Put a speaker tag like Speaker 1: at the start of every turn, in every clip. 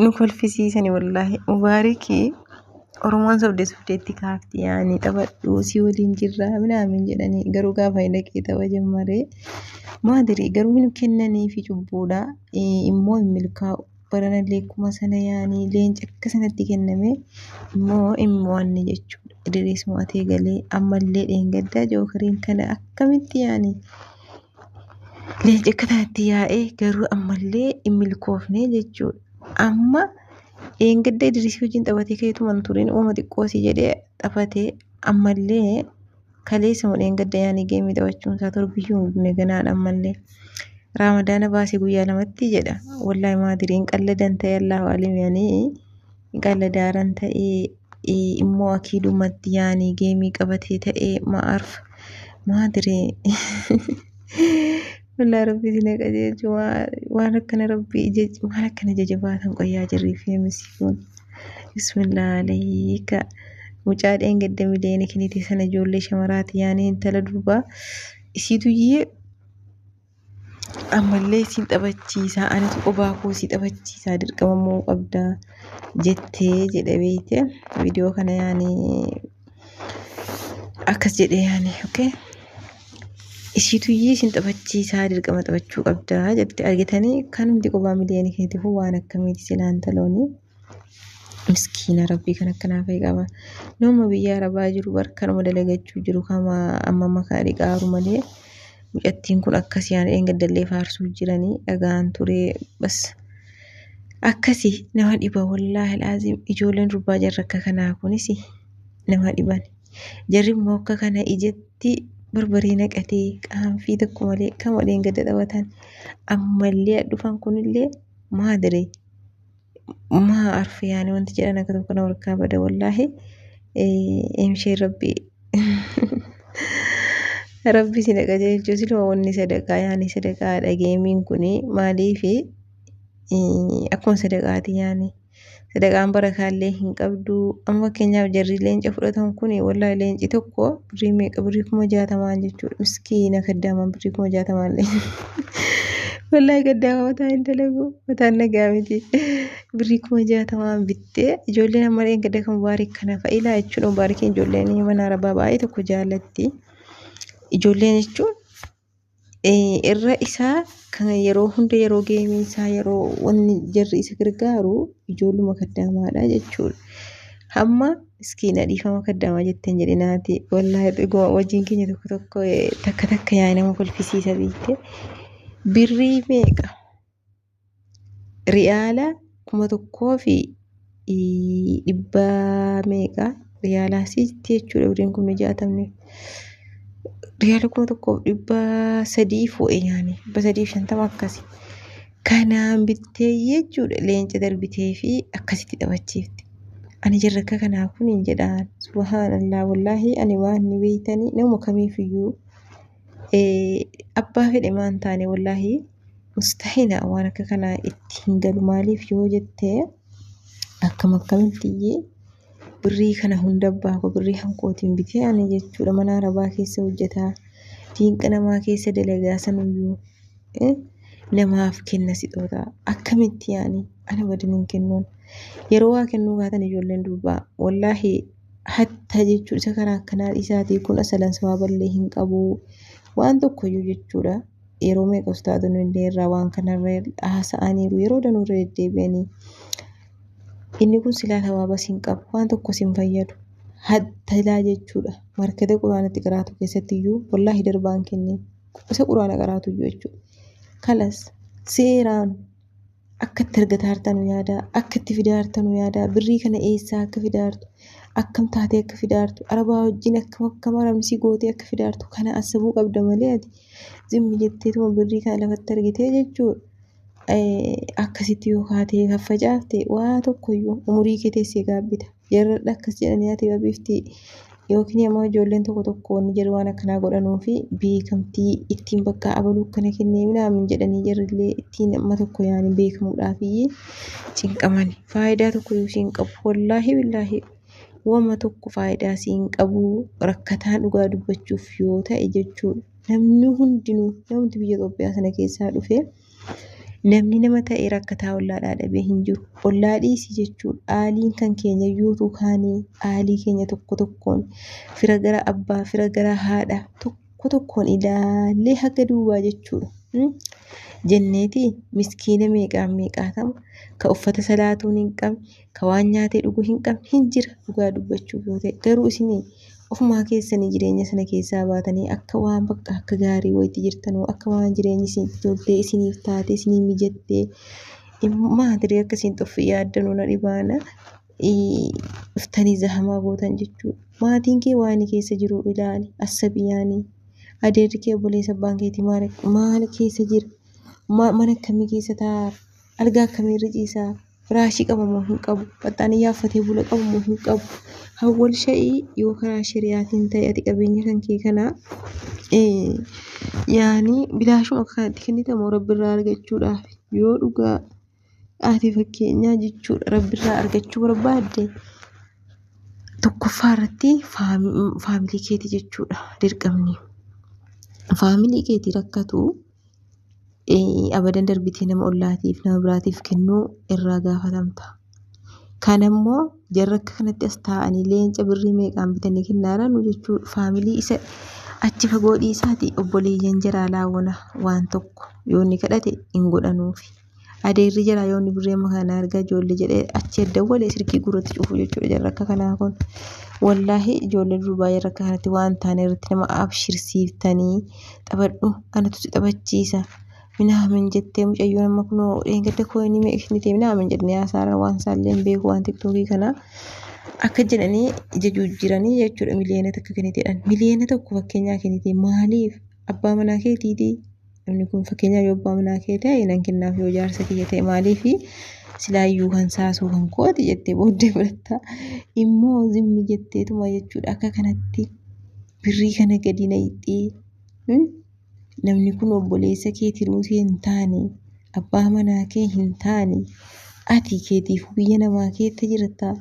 Speaker 1: nu kolfisiisani wallaahi mubaariki oromoon sobde sobdeetti kaafti yaani taphadhu si waliin jirra minaamin jedhanii garuu gaafa hin dhaqee tapha jammaree maadiri garuu hin kennanii fi cubbuudha immoo hin milkaa'u baranallee akkuma sana yaani leenca akka sanatti kenname immoo hin mo'anne jechuudha idiriis mo'atee galee ammallee dheengaddaa jookariin kana akkamitti yaani Leenci akka kanatti yaa'ee garuu ammallee hin milkoofne jechuudha. Amma dheengadda Idrisii wajjin taphatee keetuma hin turin uuma xiqqoo si jedhee taphatee ammallee kaleessa moo dheengadda yaanii geemii taphachuun isaa torbiyyuu hin gune ganaan ammallee. Raamadaana baasee guyyaa lamatti jedha. Wallaahi maadiriin qalladan ta'e Allahu alim yanii. Galadaaran ta'ee ee, immoo akiidumatti yaani geemii qabatee ta'ee ma'arf maa diree Walaa rabbi isin haa qajeelchu waa- waan akkana rabbi ija waan akkana ija jabaatan qoyyaa jirrii fi misi kun bismillah alayka mucaa dheengadda miliyoona kenite sana ijoollee shamaraati yaani intala durbaa isiitu iyyee Ammallee siin taphachiisa anis qubaa koo si taphachiisa dirqama mo'uu qabda jettee jedhe beekte viidiyoo kana yaani akkas jedhe yaani okay ishiituyyii isin taphachiisaa dirqama taphachuu qabda jette argitanii kan hundi qubaa miliyoonii keetiifuu waan akkamiiti silaan taloonii. miskiina rabbii kan akkanaa fa'i qaba nama biyya arabaa jiru bar kanuma dalagachuu jiru kama amma makaa dhiqaaru malee mucattiin kun akkasii aan dheengaddallee faarsuu jiranii dhagaan turee bas akkasii nama dhiba wallaahi laaziim ijoolleen durbaa jarra akka kanaa kunis nama dhiban jarri immoo akka kana ijatti barbaree naqatee qaanfii tokko malee kama dheengadda taphatan ammallee dhufan kunillee maadire maa arfi yaani wanti jedhan akka tokko na warkaa bada wallaahi imshee rabbi rabbi si dhaqa jechuun siluma wanni sadaqaa yaani sadaqaa dhageemiin kun maaliifi akkuma sadaqaati yaani sadaqaan barakaallee hin qabdu amma fakkeenyaaf jarri leenca fudhatan kun wallaahi leenci tokko birrii meeqa birrii kuma jaatamaan jechuudha miskiina kaddaamaan birrii kuma jaatamaan leenca. Wallaahi gaddaa mataa hin dalagu. Mataan nagaa miti. Birrii kuma jaatamaan bittee ijoolleen amma dheen gadda kan mubaarik kana fa'ilaa jechuun mubaarikiin ijoolleen mana arabaa baay'ee tokko jaallatti. Ijoolleen jechuun irra isaa kan yeroo hunda yeroo geemii isaa yeroo wanni jarri isa gargaaru ijoolluma kaddaamaadha jechuudha. Hamma Miskiina dhiifama kaddamaa jetteen jedhe naati. Wallaahi dhuguma wajjin keenya tokko tokko eh, takka takka yaa nama kolfisiisa beekte. Birrii meeqa? Riyaala kuma tokkoo fi ii, dhibba meeqa? Riyaala asiitti jechuudha birriin kun jaatamne. Riyaala kuma tokkoof dhibba sadii foo'e nyaane. Dhibba sadii fi shantama akkasi. Kanaan bittee jechuudha leenca darbitee fi akkasitti taphachiifte. Ani jarrakka kanaa kun hin jedhaan. Subhaanallah wallaahi ani waan ni beeytanii nama kamiifiyyuu abbaa fedhe maan taane wallaahi mustahina waan akka kanaa itti hin galu maaliif yoo jette akkam akkamittiyyee birrii kana hunda abbaa koo birrii hankootiin bitee ani jechuudha mana arabaa keessa hojjetaa diinqa namaa keessa dalagaa sanuyyuu. namaaf kenna sixoota akkamitti yaani ana wajjin kennuun yeroo waa kennuu kaatan ijoolleen durbaa wallaahi hatta jechuun isa kana akkanaa isaatii kun asalan sawaballee hin qabu waan tokkoyyuu jechuudha yeroo meeqa ustaadonni illee irraa waan kanarra haasa'aniiru yeroo danuurra deddeebi'anii inni kun silaa sawaabas hin qabu waan tokkos hin fayyadu hattalaa jechuudha markatee quraanatti qiraatu keessatti iyyuu wallaahi darbaan kennee. Isa quraana qaraatu iyyuu jechuudha. Kalas seeraan akka itti argataa jirtanu yaadaa, akka itti fidaa jirtanu yaadaa, birrii kana eessaa akka fidaa jirtu, akkam taatee akka fidaa jirtu, arabaa wajjin akkam akkam haramsii gootee akka fidaa jirtu kana asabuu qabda malee ati zimmi jetteetuma birrii kana lafatti argitee jechuudha. akkasitti yoo kaatee faffacaafte waa tokkoyyuu umurii kee teessee gaabbita. Jarradha akkas jedhanii ati babiifti yookiin immoo ijoolleen tokko tokko wanni jedhu waan akkanaa godhanuu fi beekamtii ittiin bakka abaluu akkana kennee minaamin jedhanii jarrillee ittiin amma tokko yaani beekamuudhaaf iyyee cinqamani. Faayidaa tokkoyyuu siin qabu. Wallaahi billaahi wama tokko faayidaa siin qabu rakkataan dhugaa dubbachuuf yoo ta'e jechuudha. Namni hundinuu namni biyya Itoophiyaa sana keessaa dhufee namni nama ta'ee rakkataa ollaa dhaadhabee hin jiru. Ollaa dhiisii jechuun aaliin kan keenya yuutuu kaanii aalii keenya tokko tokkoon fira gara abbaa fira gara haadha tokko tokkoon ilaallee haga duubaa jechuudha. Hmm? Jenneeti miskiina meeqaan meeqaatama ka uffata salaatuun hin qabne ka waan nyaatee dhugu hin qabne hin jira dhugaa dubbachuuf yoo ta'e garuu isin ofumaa keessanii jireenya sana keessaa baatanii akka waan bakka akka gaarii wayitti jirtan akka waan jireenyi isin toltee isiniif taatee isinii mijattee maatirii akka isin xoffi yaaddanuu na dhibaana dhuftanii zahamaa gootan jechuudha. Maatiin kee waan keessa jiru ilaali assabiyaanii adeerri kee obboleessa abbaan keetii maal keessa jira mana akkamii keessa taa'aa algaa akkamiirra ciisaa firaashii qaba moo hin qabu baxxaaniyyaa uffatee bula qaba moo hin qabu hawwal sha'ii yoo karaa shari'aatiin ta'e ati qabeenya kan kee kana yaani bilaashuma akka kanatti kennita moo rabbirraa argachuudhaaf yoo dhugaa ati fakkeenyaa jechuudha rabbirraa argachuu barbaadde tokkoffaa irratti faamilii keeti jechuudha dirqamni faamilii keeti rakkatu abadan darbitee nama ollaatiif nama biraatiif kennuu irraa gaafatamta. Kan ammoo jarri akka kanatti as taa'anii leenca birrii meeqaan bitanii kennaara nu jechuu faamilii isa achi fagoo dhiisaati obboleeyyan jaraa laawwana waan tokko yoo inni kadhate hin godhanuufi. Adeerri jira yoo inni birrii amma kana argaa ijoollee jedhee achi dawwalee silkii guurratti cufu jechuudha jarri akka kanaa kun. Wallaahi ijoollee durbaa jarri akka kanatti waan hin taane irratti nama abshirsiiftanii taphadhu anatu si taphachiisa. Minaamin jettee mucayyoon amma kunoo dheengadda kooyinii meeqa ishiin ta'e minaamin jedhanii haasaarra waan isaallee hin beeku waan tiktookii kanaa. Akka jedhanii ija jijjiiranii jechuudha miliyoona takka kenniteedhaan. Miliyoona tokko fakkeenyaa kennitee maaliif abbaa manaa keetiitii? Namni kun fakkeenyaaf yoo abbaa manaa kee ta'e nan kennaaf yoo jaarsa kiyya ta'e maaliif silaayyuu kan saasuu kan kooti jettee booddee fudhatta. Immoo zimmi jetteetuma jechuudha akka kanatti birrii kana gadi na hixxee. Namni kun obboleessa kee tiruusii hin taane abbaa manaa kee hin taane ati keetiif biyya namaa keessa jirta.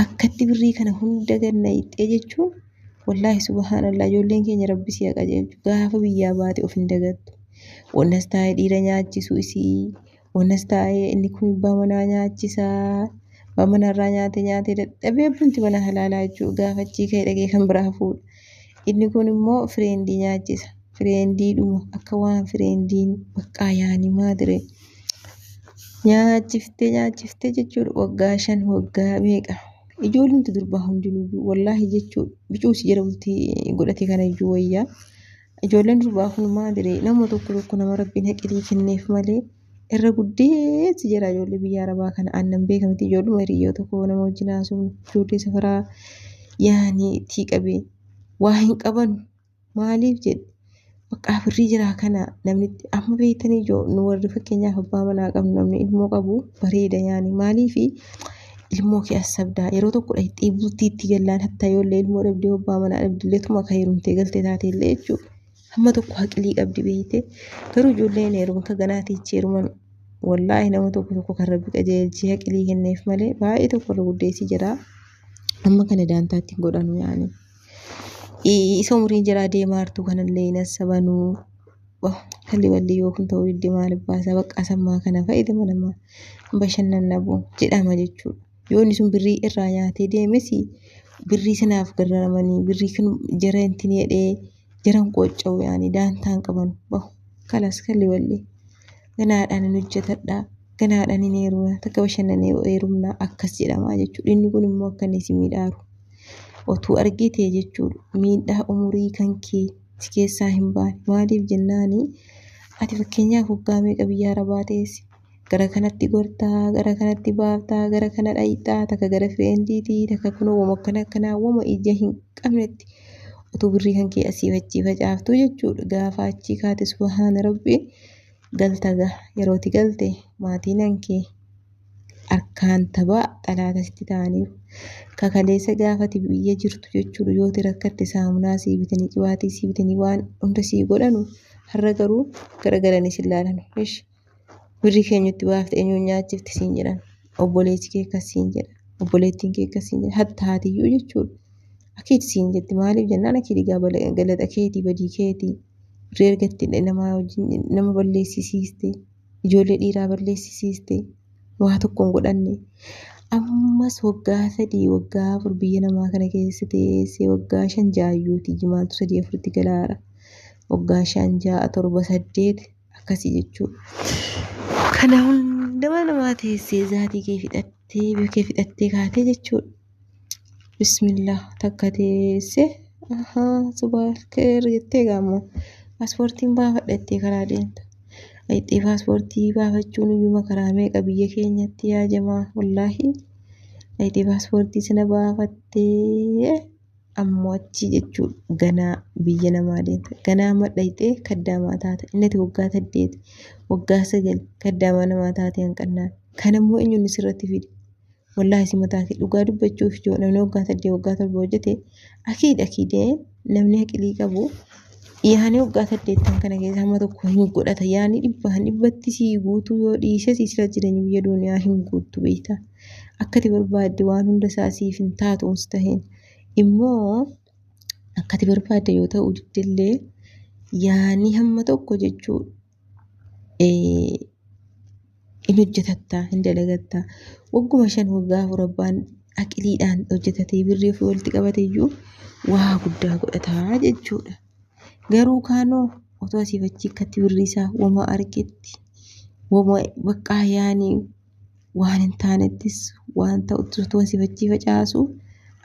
Speaker 1: Akkatti birrii kana hunda gad na hiixxee jechuun wallaahi subhaanallah ijoolleen keenya rabbi si haa qajeelchu gaafa biyyaa baate of hin dagattu. Onas taa'ee dhiira nyaachisuu isii onas taa'ee inni kun abbaa manaa nyaachisaa abbaa manarraa nyaatee nyaatee dadhabee abbumti mana halaalaa jechuun gaafa achii ka'ee dhaqee kan biraa fuudha. Inni kun immoo fireendii nyaachisa. Fireendiidhuma akka waan fireendiin baqqaa yaani maadire. Nyaachiftee nyaachiftee jechuudha waggaa shan waggaa meeqa. Ijoollumti durbaa hundinuyyuu wallaahi jechuu bicuusi jala bultii godhate kana iyyuu wayyaa. Ijoolleen durbaa kun maadire nama tokko tokko nama rabbiin haqilii kenneef malee. irra guddeessi jira ijoollee biyya arabaa kana aannan beeka miti ijoolluma hiriyyoo tokko nama wajjin haasofnu ijoollee safaraa yaani tii qabee waa hin qabanu maaliif jedhe baqqaa birrii jiraa kana namni amma beektanii ijoo nu warri fakkeenyaaf abbaa manaa qabnu namni ilmoo qabu bareeda yaani maaliif ilmoo kee as sabdaa yeroo tokkodha itti dhiibduutti itti gallaan hattaa ijoollee ilmoo dhabdee abbaa manaa dhabdilleetuma akka heerumtee galte taate illee jechuudha. hamma tokko haqilii qabdi beeyte garuu ijoolleen heeruma akka ganaati ichi heeruman wallaahi nama tokko tokko kan rabbi qajeelchee haqilii kenneef malee baay'ee tokko irra guddeessi jira amma kana daantaatti hin godhanu yaani isa umriin jiraa deemaa hartuu kanallee hin assabanuu kalli walli yoo kun ta'uu didde maal baasa baqqaa sammaa kana fayyadama nama bashannanna boo jedhama jechuudha yoo inni sun birrii irraa nyaatee deemesi birrii sanaaf garraramanii birrii kan jara hin tinee dhee jiran qoocca'u yaani daantaa hin qaban bahu kalas kalli walli ganaadhaan hin hojjetadhaa ganaadhaan hin heeruma takka bashannanee heerumnaa akkas jedhamaa jechuudha inni kun immoo akka inni si miidhaaru otuu argitee jechuudha miidhaa umurii kan kee si keessaa hin baane maaliif jennaani ati fakkeenyaaf hoggaa meeqa biyyaa rabaa teessi gara kanatti gortaa gara kanatti baaftaa gara kana dhayxaa takka gara fireendiitii takka kunoo wama akkana akkanaa wama ija hin qabnetti utuu birrii kan kee asii fachii facaaftuu jechuudha gaafa achii kaate subahaana rabbii galta gaa yerooti galte maatiin hankee harkaan tabaa xalaata sitti ta'aniiru kakaleessa gaafati biyya jirtu jechuudha yooti rakkatte saamunaa sii bitanii qibaatii sii bitanii waan hunda sii godhanu har'a garuu gara galanii si ilaalanu ishi Birrii kee nutti baafte eenyuun nyaachifte siin jedhan. Obboleessi kee akkas siin jedha. Obboleettiin kee akkas siin jedha. Hatta haatiyyuu jechuudha. Akkiiti siin jetti maaliif jennaan akkiiti gaa bala- galaxa keetii badii keetii. Birrii argattee namaa wajjin nama balleessisiiste. Ijoollee dhiiraa balleessisiiste. Waa tokko hin godhanne. Ammas waggaa sadii waggaa afur biyya namaa kana keessa teessee waggaa shan jaayyuuti jimaaltu sadii afuritti galaara. Waggaa shan ja'a torba saddeet akkasii jechuudha. Kana hundumaa namaa teessee zaatii kee fixattee biyya kee fixattee kaatee jechuudha. Bismillah takka teessee ahaa subaa keer jettee gaammoo paaspoortiin baafadha jettee karaa deemta. Dhaqxee paaspoortii baafachuun iyyuma karaa meeqa biyya keenyatti yaa jamaa wallaahi. Dhaqxee paaspoortii sana baafattee. Ammoo achii jechuun ganaa biyya namaa deemte. Ganaa amma dhayxee kaddaamaa taate. Inni ati waggaa saddeeti, waggaa sagal kaddaamaa namaa taate hanqannaan. Kan ammoo eenyuun sirratti fide? Wallaahi si mataa kee dhugaa dubbachuuf yoo namni waggaa saddeet waggaa torba hojjete akiid akiidee namni haqilii qabu yaani waggaa saddeettan kana keessa hamma tokko hin godhata yaani dhibbaan dhibbatti sii guutuu yoo dhiises sila jireenya biyya duuniyaa hin guuttu beektaa. Akkati barbaadde waan hunda isaa siif hin taatu mustahiin. Immoo akkati barbaadde yoo ta'uu didde illee yaanii hamma tokko jechuu eh, in hojjetatta hin dalagatta wagguma shan waggaa afur abbaan aqiliidhaan hojjetatee birrii ofii walitti qabate iyyuu waa guddaa godhataa jechuudha garuu kaanoo otoo asiif achii akkatti birrii isaa wama argetti wama baqqaa yaanii waan hin taanettis waan ta'uttis utuu asii achii facaasu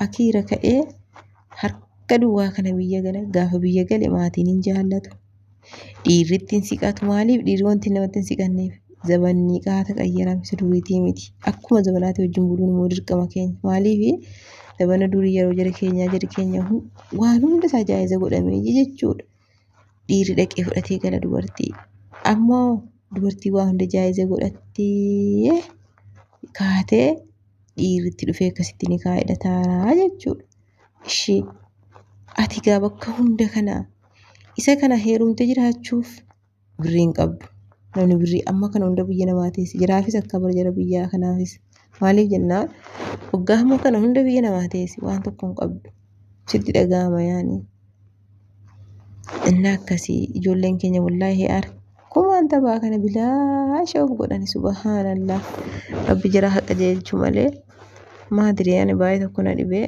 Speaker 1: akiira ka'ee harka duwwaa kana biyya gala gaafa biyya gale maatiin hin jaallatu. Dhiirri itti hin siqatu maaliif dhiirri wanti namatti hin siqanneef zabanni qaata qayyarame isa duriitii miti. Akkuma zabanaati wajjin buluun immoo dirqama keenya maaliif zabana durii yeroo jara keenyaa jari keenya waan hunda isaa jaa'iza godhamee jechuudha. dhiirri dhaqee fudhatee gala dubartii ammoo dubartii waa hunda jaayiza godhattee kaatee dhiirritti dhufee akkasitti ni kaa'edha taaraa jechuudha. Ishee ati gaa bakka hunda kana isa kana heerumte jiraachuuf birrii hin qabdu. Namni birrii amma kana hunda biyya namaa teesse jiraafis akka bara jara biyyaa kanaafis maaliif jennaan waggaa hamma kana hunda biyya namaa teesse waan tokko hin qabdu sitti dhaga'ama yaani. Inni akkasii ijoolleen keenya wallaahi harkumaan taphaa kana bilaasha of godhani subhaanallah rabbi jara haqa jeelchu malee maadiri ani baay'ee tokko na dhibee.